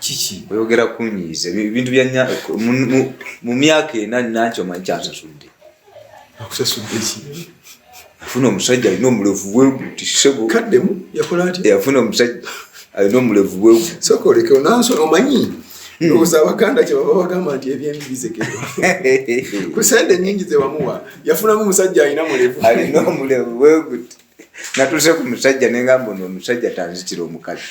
kiki oyogera kunyiiza ebintu bya mu myaka ena nanki omanyi kyansasudde akusasudde ki afuna omusajja alina omulevu bweguti sebo kaddemu yakola ati eh, afuna omusajja alina omulevu bwegu soka olekeo nanso omanyi hmm. obuza abaganda kyebaba bagamba nti ebyembi bizekerwa ku sente nyingi zebamuwa yafunamu omusajja alina mulevu alina omulevu bweguti natuuse ku musajja nengamba ono omusajja tanzitira omukazi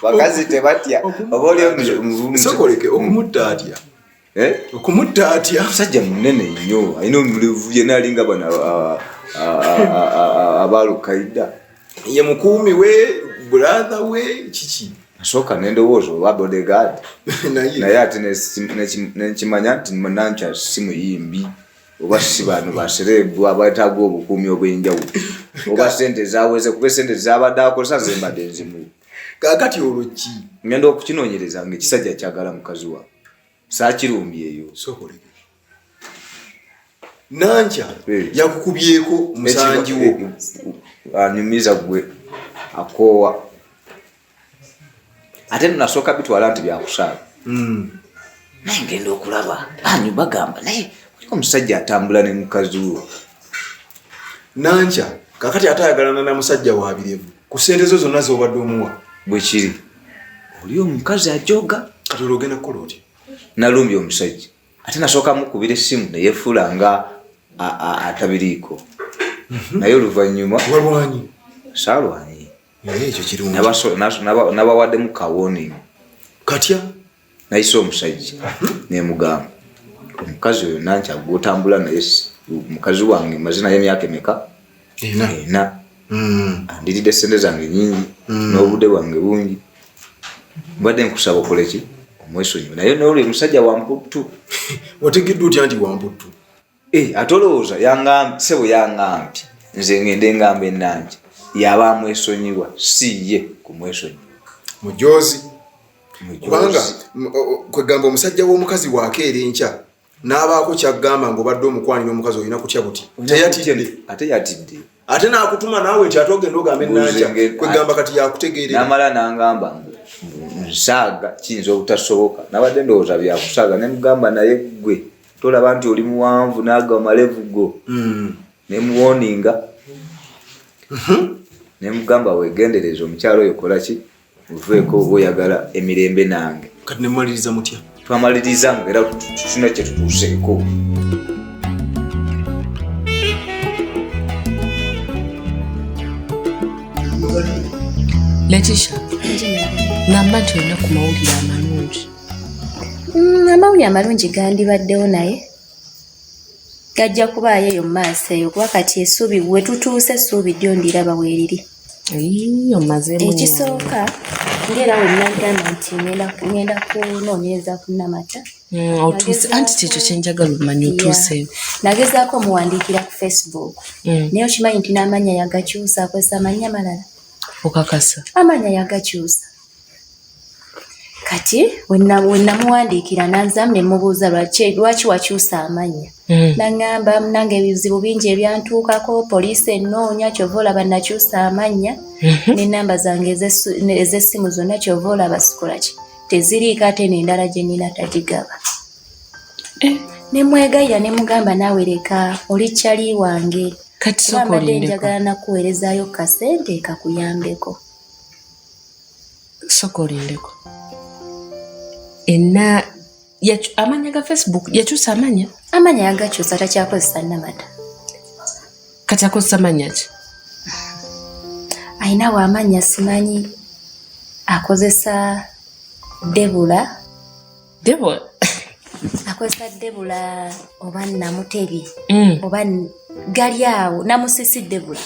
bakazi tebatya oba oli omusokoleke okumutta atya eh? okumutta atya omusajja munene nnyo alina omulevu yena alinga bano abalukaida ye mukuumi we brother we kiki nasooka nendowooza oba bodyguard naye ate nekimanya nti nanca si muyimbi oba si bantu basereebu abataaga obukuumi obwenjawulo oba sente zaweze kuba esente zabadde akozesa zembadde nzimu kakati olwo ki ngenda okukinonyereza nga ekisajja kyagala mukazi wa saakirumbyeyo nankya eh. yakukubyeko musanji wo eh, anyumiza gwe akoowa ate nasooka bitwala nti byakusaala hmm. naye ngenda okulaba anyu bagamba naye oliko omusajja atambula ne mukazi wo nankya kakati ate ayagalana na musajja wabirevu ku sente zo zonna zobadde omuwa bwekiri oli omukazi ajoga kati olwogenda kukola otya nalumbye omusajja ate nasooka mukubira essimu neyefuula nga atabiriiko mhm. naye oluvannyuma walwanyi saalwanyi ekyo kirungi nabawaddemu kawoni katya nayise omusajja mhm. nemugamba omukazi oyo nankyagwe otambula naye mukazi wange mazina yemyaka emeka ena hmm. andiridde sente zange nyingi hmm. n'obude bwange bungi mbadde nkusaba okoleki omwesonyiwe naye nolwe musajja wamputtu otegedde otya nti wamputtu eh, ate olowooza sebo yangambye nze ngende engamba enange yaba amwesonyiwa si ye kumwesonyiwa mujozi kubanga kwegamba omusajja w'omukazi wakeera enkya n'abaako kyagamba ngaobadde omukwanira omukazi olina kutya buti teyatidde ate yatidde ate nakutuma naawe nti ate ogenda ogamba enanja kwegamba kati yakutegeerenamala nangamba nsaaga kiyinza obutasoboka nabadde ndowooza byakusaaga nemugamba naye gwe tolaba nti oli muwanvu naaga malevu go hmm. nemuwoninga mhm. nemugamba wegendereza omukyalo oyo kolaki nveeko oba oyagala emirembe nange kati nemumaliriza mutya twamaliriza nga era tuna kyetutuuseeko letisha ngamba nti olina ku mawulire amalungi mm, amawulire amalungi gandibaddewo naye gajja kubaayo eyo mu maaso eyo kuba kati esuubi we tutuuse esuubi ddyo ndiraba weeriri ekisooka ngaera wenagamba nti ngenda kunoonyereza ku namata mm, otuuse anti kyekyo kyenjagala omanya otuuseyo nagezaako omuwandiikira ku facebook mm. naye okimanyi nti n'amanya yagakyusa akozesa amanya amalala okakasa amanya yagakyusa kati wenamuwandiikira nanzamu nemubuuza lwaki wakyusa amanya hmm. naŋamba munange ebizibu bingi ebyantuukako poliisi enoonya kyova olaba nakyusa amanya hmm. nenamba zange ezesimu zonna kyova olaba sikolaki teziriiko ate nendala gyenina tagigaba eh. nemwegayira nemugamba naawe leka oli kyali wange kati sokolindeko. Mbadde njagala nakuweerezaayo kasente kakuyambeko. soka olindeko enna amanya ga facebook yakyusa amanya amanya yagakyusa takyakozesa namata kati akozesa manya ki ayinawo amanya simanyi akozesa debula debula akozesa debula oba namutebi mm. oba gali awo namusisi debula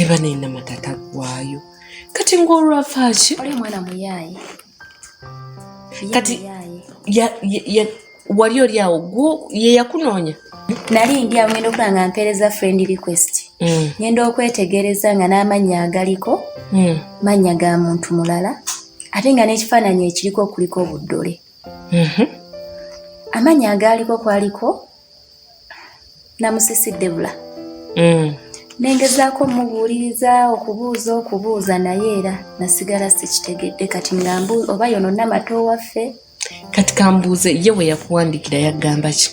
eba neyina matata gwayo kati ng'olwavaaki oli omwana muyaaye kati wali oli awo gwo ye yakunoonya nali ndi awo ngenda okula nga mpeereza friend request hmm. ngenda okwetegereza nga n'amannya agaliko hmm. mannya ga muntu mulala ate nga n'ekifaananyi ekiriko kuliko obuddole mhm. amannya agaaliko kwaliko namusisi debula mm. nengezaako omubuuliriza okubuuza okubuuza naye era nasigala sikitegedde kati nga oba yononna mato waffe kati kambuuze ye we yakuwandiikira yagamba ki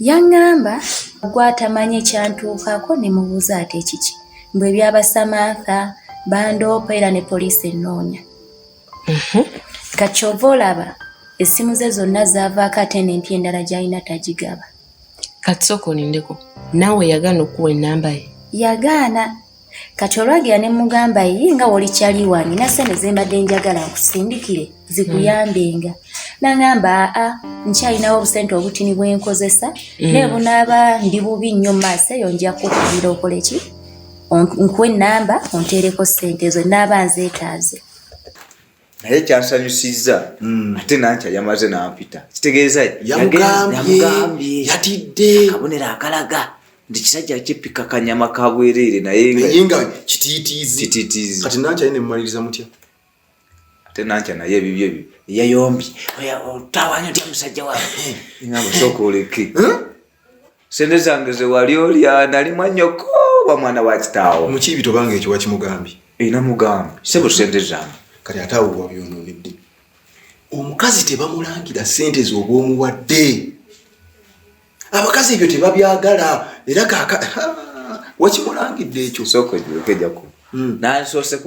yaŋŋamba gwatamanyi ekyantuukaako ne mubuuza ate kiki mbwe ebyaba samantha bandoopa era ne poliisi ennoonya Mhm. kakyova olaba essimu ze zonna zaavaako ate n'empya endala gy'alina tagigaba kati sooka olindeko naawe yagaana okuwa ennamba ye yagaana kati olwagira ne mugamba ye nga wolikyali wange nasente zembadde njagala nkusindikire zikuyambenga mm. nangamba aa nkyalinawo obusente obutini bwenkozesa mm. naye bunaaba ndi bubi nnyo maaso eyo nja kukubira okoleki nkuwa ennamba onteereko ssente ezo naaba nzeetaaze naye kyansanyusizza hmm. ate nankya yamaze nampita kitegeeza yamugambye yatidde akabonero akalaga nti kisajja kipika kanyama kabwereere naye nga kitiitiizi kati nankya ye nemumaliriza mutya ate nankya naye ebibyo ebyo eyayombye otawanya otya musajja wawe ngamba sooka oleke sente zange zewali olya nali mwanyoko wa mwana wa kitaawo mukiibi tobanga ekyo wakimugambye ina mugambe sebo sente zange kati ate awo wabyononedde omukazi tebamulangira sente zobwomuwadde abakazi ebyo tebabyagala era kaka wakimulangidde ekyo sokoejaku hmm. nansoose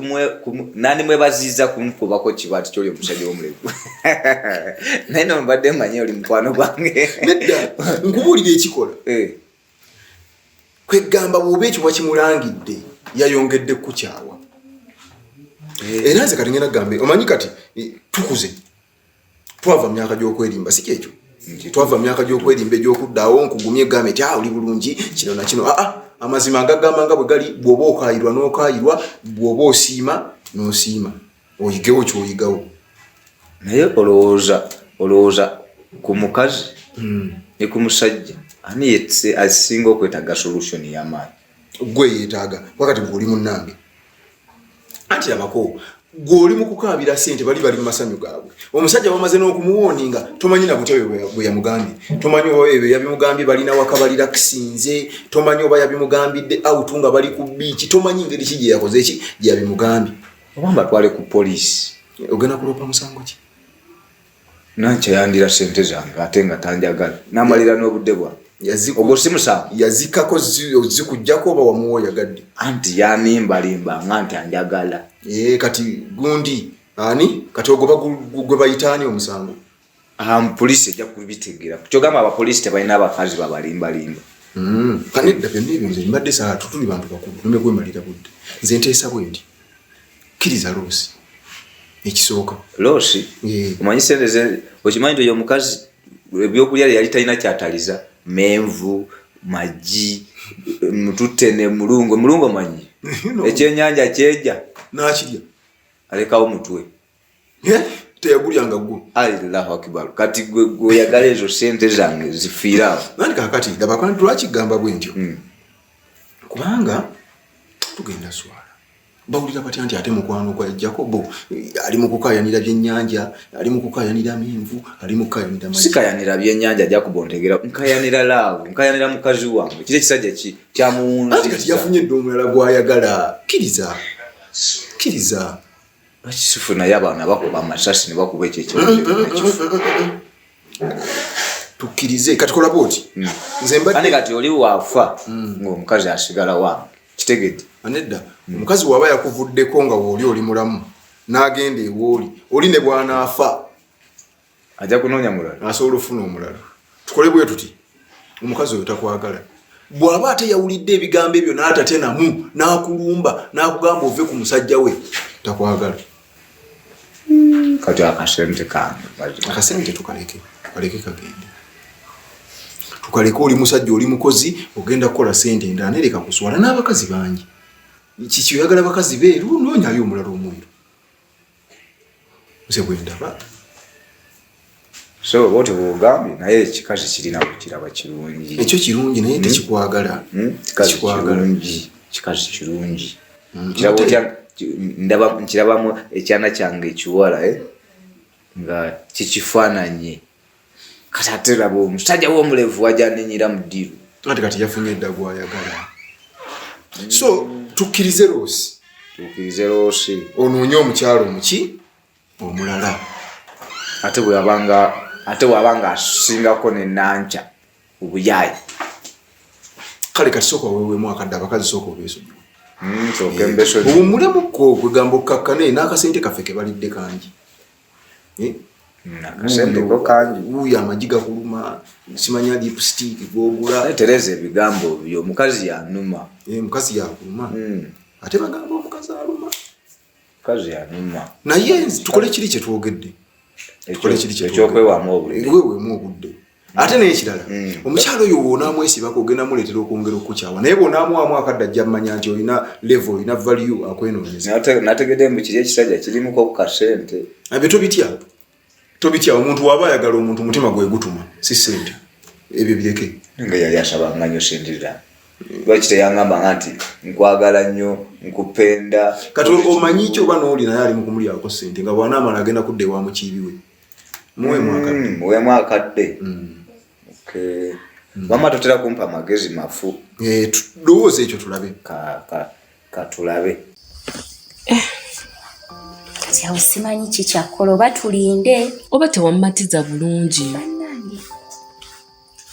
nandi mwebaziiza kumukubako kiba ti kyoli omusajja womulevu naye nomubadde manye oli mukwano gwange nedda nkubuulira ekikola eh. kwegamba bwoba ekyo wakimulangidde yayongedde kukukyawa eh. era nze kati ngenda gambe omanyi kati tukuze twava mu myaka gy'okwerimba si kyekyo nti twava mu myaka gy'okwerimba egy'okuddaawo nkugumye gambe ti ah, oli bulungi kino nakino aa ah, ah, amazima agagamba nga bwe gali bw'oba okaayirwa n'okaayirwa bw'oba osiima n'osiima oyigewo kyoyigawo naye olowooza olowooza ku mukazi hmm. ne ku musajja ani asinga okwetaaga solution y'amaanyi gwe yetaaga kuba kati gwe oli munnange anti labako gwe oli mu kukaabira sente bali bali mu masanyu gaabwe omusajja bamaze n'okumuwooninga tomanyi na butya bwe yamugambye tomanyi oba ebyo yabimugambye balina waka balirakisinze tomanyi oba yabimugambidde autu nga bali ku biiki tomanyi ngeri ki gye yakoze ki gye yabimugambye oba mbatwale ku poliisi ogenda kuloopa musango ki Nankya yandira ssente zange ate nga tanjagala n'amalira n'obudde bwange. Ogwo si musango. Yazikako zikugyako oba wamuwa oyagadde? Anti yanimbalimba nga nti anjagala. Ee eh, kati gundi ani kati ogwo gwe bayita ani omusango? Um, poliisi ejja kubitegera kyogamba abapoliisi tebalina abakazi babalimbalimba hmm. kanedda byonna ebyo nze mbadde saa tutuli bantu bakulu nomekwemalira budde nze nteesa bwendi kiriza losi ekisooka losi eh. omanyi sente ze okimanyi nti oyo omukazi ebyokulya yali talina kyataliza menvu magi mutute ne mulungo mulungo manyi ekyenyanja kyeja nakirya alekawo mutwe eh? teyagulyanga gwo allahu akibaru kati gwe gweoyagala ezo sente zange zifiirawo nani kakati labakana tulwakigamba bwe ntyo hmm. kubanga tugenda swala bawulira batya nti ate mukwano gwa jakobo ali mukukayanira byenyanja ali mukukayanira menvu ali mukukayanira sikayanira byenyanja jakobo ntegera nkayanira laavu nkayanira mukazi wange kiri ekisajja kyamuwunzikati yafunye dde omulala gwayagala kiriza kiriza Bakisufu naye abaana bakuba amasasi ne bakuba ekyo ekifu. Tukkirize kati kola bwoti. Hmm. Nze mbadde kati oli waafa hmm. ng'omukazi asigala wange kitegedde. Anedda hmm. omukazi waba yakuvuddeko nga wooli oli mulamu n'agenda ewooli oli ne bw'anaafa. ajja kunoonya mulala asobola ofuna omulala tukole bwe tuti omukazi oyo takwagala bw'aba ate yawulidde ebigambo ebyo n'atate namu n'akulumba n'akugamba ove ku musajja we takwagala hmm, kati akasente kange akasente tukaleke tukaleke kagende tukaleke oli musajja oli mukozi ogenda kukola sente endala nereka kuswala n'abakazi bangi kiki oyagala bakazi beeru noonyayo omulala omuliro nze bwendaba so bwoti bwogambye naye ekikazi kirina kukiraba kirungi ekyo kirungi naye hmm? tekikwagala hmm? kikazi kirungi kikazi kirungi hmm, kiraba otya ndaba nkirabamu ekyana kyange ekiwala eh? nga kikifaananye kati ate laba omusajja womulevu wajaninyira mu diru ati kati yafunye eddagu ayagala so tukkirize loosi tukkirize loosi onoonye omukyalo omuki omulala ate bweyabanga ate waba nga asingako nenanca obuyaayi kale kati soka wewemu akadde abakazi soka obesonyiwe hmm, eh, obumulemu ko kwegamba okkakkane n'akasente kaffe kebalidde kangi eh? uyo amagi gakuluma simanya lipstick gwogula tereza ebigambo byo omukazi yanuma eh, omukazi yakuluma hmm. ate bagamba omukazi aluma omukazi yanuma naye tukole kiri kyetwogedde ekyokwewaamu obudde ate nekirala mm. omukyalo oyo wonaamwesibako ogenda muleetera okwongera okukukyawa naye bwonaamwamu akadde ajja mmanya nti olina levo olina valiu akwenoonyezategede mbu kiri ekisajja kirimuko kukasente abye tobitya tobitya omuntu waba ayagala omuntu mutima gwegutuma si sente ebyo bireke nga yali asabanganyo sindira lwaki teyangambanga nti nkwagala nnyo nkupenda kati omanyi ki oba nooli naye ali mukumulyako sente nga bwanaamala agenda kudda ewa mukiibiwe muwemu akadde mama totera kumpa magezi mafu eh, lowooza ekyo tulabe katulabe eh. kati awo simanyi kikyakola oba tulinde oba tewamumatiza bulungi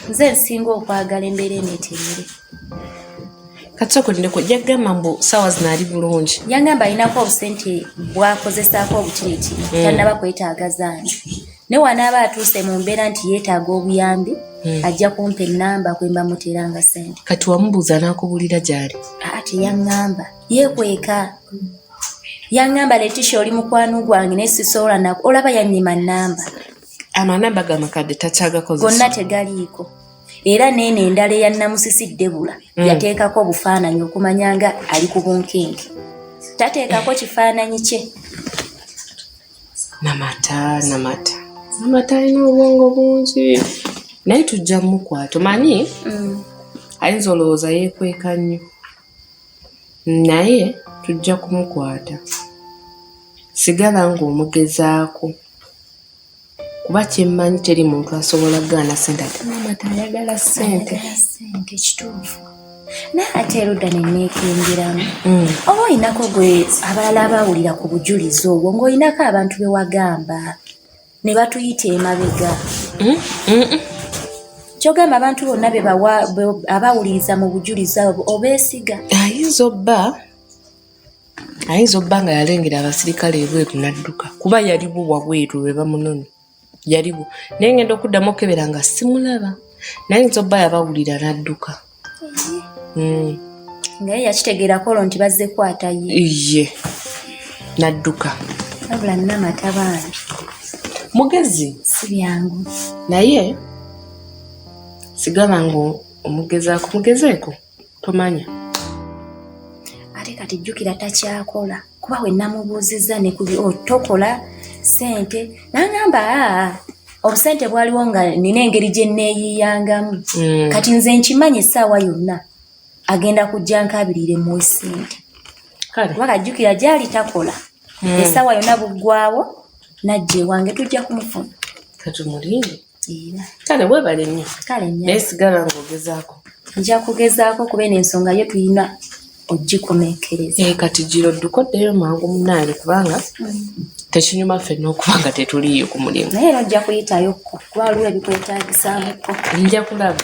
nze nsinga okwagala embeera eno eterere kati okulindeko jagamba mbu sawa zinaali bulungi yangamba alinako obusente bwakozesaako obutiriti mm. tanaba kwetaaga zaani ne wanaaba atuuse mu mbeera nti yeetaaga obuyambi mm. ajja kumpa ennamba kwemba muteeranga sente kati wamubuuza anakubuulira gyali aa teyangamba yekweka yangamba letisha oli mukwano gwange naye sisobola nako olaba yanyima nnamba amanamba ga makadde takyagakozesa gonna tegaliiko era neeno endala eya namusisi debula mm. yateekako obufaananyi okumanya nga ali ku bunkenke tateekako kifaananyi kye namata namata namata alina obwongo bungi naye tujja mukwata omanyi mm. ayinza olowooza yekweka nnyo Naye tujja kumukwata. Sigala ng'omugezaako kuba kye mmanyi teri muntu asobola kugaana ssente ate maama tayagala ssente. ssente kituufu naye ate erudda ne nneekengeramu mm. oba olinako gwe abalala abaawulira ku bujulizi obwo ng'olinako abantu be wagamba ne batuyita emabega mm, mm, mm. kyogamba abantu bonna bebawa abawuliriza mu bujulizi abo obeesiga ayinza obba ayinza obba nga yalengera abasirikale ebweru nadduka kuba yaliwo wabweru lwe bamunoni yaliwo naye ngenda okuddamu okebera nga simulaba nayinza obba yabawulira nadduka hmm. naye yakitegeerako olwo nti bazze kwata ye iye nadduka wabula nina mata bambi mugezi si byangu naye sigaba nga omugezaako mugezeeko tomanya ate kati jjukira takyakola kuba we namubuuzizza ne kuli oh, tokola sente nangamba aa obusente bwaliwo nga nina engeri gye neeyiiyangamu mm. kati nze nkimanyi essaawa yonna agenda kujja nkabirire mu sente kuba kajjukira gyali takola mm. essaawa yonna buggwawo najja ewange tujja kumufuna katumulinde kale webale nnyo naye sigala ngaogezaako nja kugezaako kuba eno ensonga yo tulina ogikomekereza eh, kati giro dduka oddeyo mangu munaali kubanga mm. tekinyuma ffenna okuba nga tetuliiyo ku mulimu naye era ojja kuyitayo kuba waliwo ebikwetagisamuko nja kulaba